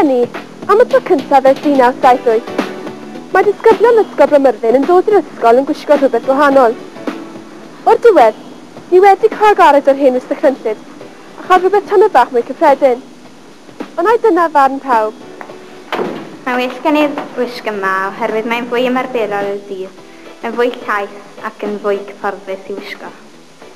Eleni, am y tro cyntaf ers 1978, mae disgyblion Ysgol Bramyrddin yn dod i'r ysgol yn gwisgo rhywbeth gwahanol. O'r diwedd, ni wedi cael gared o'r hen wisg crynllyd a chael rhywbeth tamed bach mwy cyffredin. Ond ai dyna farn pawb? Mae'n well gen i'r wisg yma oherwydd mae'n fwy ymarferol i'r dydd, yn fwy llaith ac yn fwy cyfforddus i wisgo.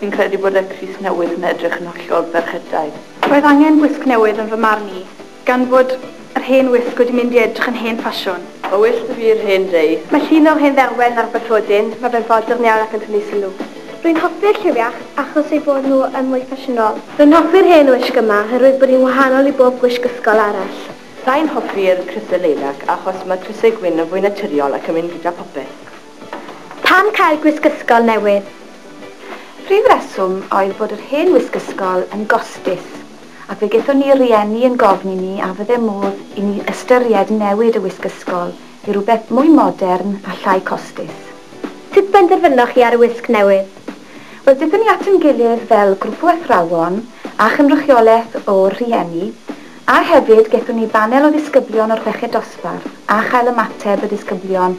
Fi'n credu bod y crys newydd yn edrych yn hollol ferchetaidd. Roedd angen gwisg newydd yn fy marn i, gan fod yr hen wisg wedi mynd i edrych yn hen ffasiwn. Mae well 'da fi yr hen dei. Mae llun o'r hen dderwen ar y bathodyn, mae fe'n fodern iawn ac yn tynnu sylw. Rwy'n hoffi'r lliw iach achos eu bod nhw yn mwy ffasiynol. Rwy'n hoffi'r hen wisg yma oherwydd bod hi'n wahanol i bob gwisg ysgol arall. Sa i'n hoffi'r crysau leilac achos mae crysau gwyn yn fwy naturiol ac yn mynd gyda phopeth. Pam cael gwisg ysgol newydd? Prif reswm oedd bod yr hen wisg ysgol yn gostus ac fe gaethon ni'r rhieni yn gofyn i ni a fydde modd i ni ystyried newid y wisg ysgol i rywbeth mwy modern a llai costus. Sut benderfynoch chi ar y wisg newydd? Wel, daethon ni at ein gilydd fel grwp o athrawon a chynrychiolaeth o'r rhieni a hefyd gaethon ni banel o ddisgyblion o'r chweched dosbarth a chael ymateb y disgyblion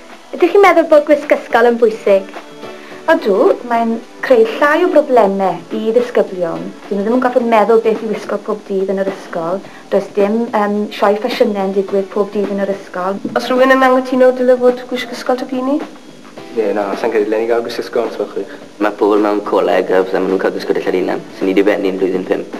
Ydych chi'n meddwl bod gwisg ysgol yn bwysig? Ydw, mae'n creu llai o broblemau i ddisgyblion, dyn nhw ddim yn gorfod meddwl beth i wisgo pob dydd yn yr ysgol, does dim yym sioe ffasiynau yn digwydd pob dydd yn yr ysgol. Oes rhywun yn anghytuno dyle fod gwisg ysgol tŷ p'un i? Ie, na, sa i'n credu dylen ni gael gwisg ysgol os gwelwch chi'ch. Mae pobl mewn coleg a phethau, maen nhw'n cael gwisgo dillad eu hunain, sy'n ni dibennu'n blwyddyn pump.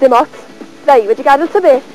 Dim ots. Ddau, wedi gadael ta beth?